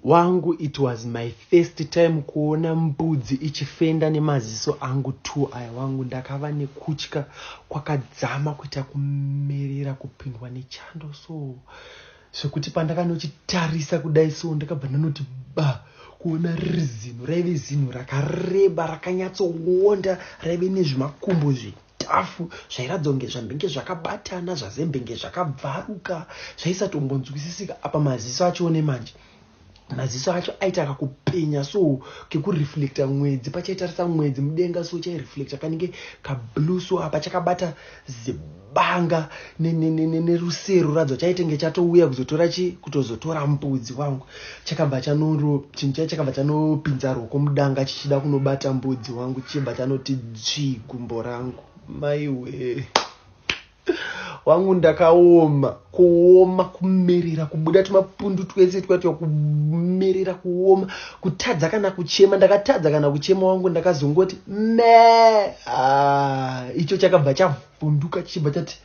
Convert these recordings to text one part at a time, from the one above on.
Wangu it was my first time kuona mbudzi ichifenda nemaziso angu two aya wangu ndakava nekutya kwakadzama kuita kumerera kupindwa nechando so zvekuti pandakanochitarisa kudai so ndakabva ndanoti ba kuona riri zinhu raive zinhu rakareba rakanyatsoonda raive nezvimakumbo zve Dhafu zvairatidza kunge zvambenge zvakabatana zvazembenge zvakabvaruka zvaisatombonzwisisika apa maziso achione manje maziso acho aita kakupenya so kekureflecta mwedzi pachaitarisa mwedzi mudenga so chaireflecta kanenge kablue so apa chakabata zibanga nerusero radzo chaitenge chatouya kuzotora chi kutozotora mbudzi wangu chakabva chanoro chinhu chai chakabva chanopinza roko mudanga chichida kunobata mbudzi wangu chichibva chanoti dzvii gumbo rangu maiwee wangu ndakaoma kuoma kumerera kubuda tumapundu twese twatwa kumerera kuoma kutadza kana kuchema ndakatadza kana kuchema wangu ndakazongoti me ah, icho chakabva chavhu Vunduka tichibva tati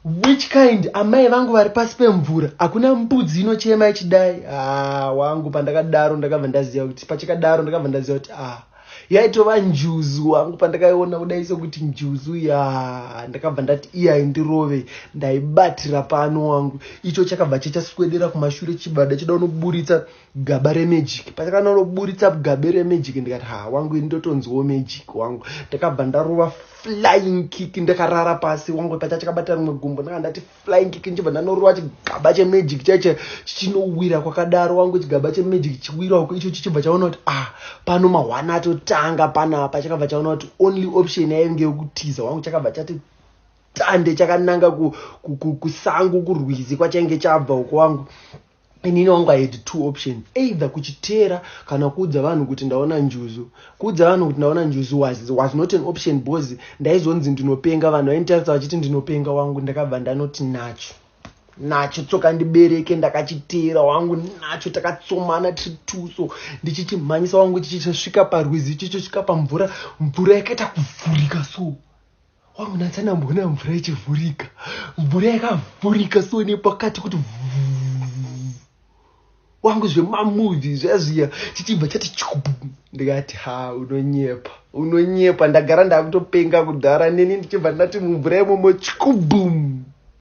which kind amai vangu vari pasi pemvura hakuna mbudzi inochema ichidai ah, wangu pandakadaro ndakabva ndaziva kuti pachakadaro ndakabva ndaziva kuti ah, yaitova njuzu wangu pandakaiona kudai sokuti njuzu ya ndakabva ndati iyai ndirove ndaibatira pano wangu icho chakabva chachaswedera kumashure chibada chida unoburitsa gaba remagic patakanoburitsa gabe remagic ndikati ha wangu ini ndotonziwo magic wangu ndakabva ndarova flying kick ndakarara pasi wangu pacha chakabata rimwe gumbo ndanga ndati flying kick ndichibva ndanorova chigaba chemagic chaiche chichinowira kwakadaro wangu chigaba chemagic chichiwira uko icho chichibva chaona kuti ah pano mahwana atotanga panapa chakabva chaona kuti only option yainge yokutiza wangu chakabva chati tande chakananga kusango kurwizi kwachainge chabva uko wangu ku, ku, ku, ku, ku, ku, ku, ku, ku, inini wangu i had two options either kuchiteera kana kuudza vanhu kuti ndaona njuzu kuudza vanhu kuti ndaona njuzu was, was not an option because ndaizonzi ndinopenga vanhu vainditarisa vachiti ndinopenga wangu ndakabva ndanoti nacho nacho tsoka ndibereke ndakachiteera wangu nacho takatsomana tiri tuso ndichichimhanyisa wangu chichichasvika parwizi chichosvika pamvura mvura yakaita kuvhurika so wangu nanzi anamboona mvura ichivhurika mvura yakavhurika so nepakati kuti wangu zvemamuvi zvazviya chichibva chati chubu ndikati ha unonyepa unonyepa ndagara ndakutopenga kudhara neni ndichibva ndati mumvura imomo chikubum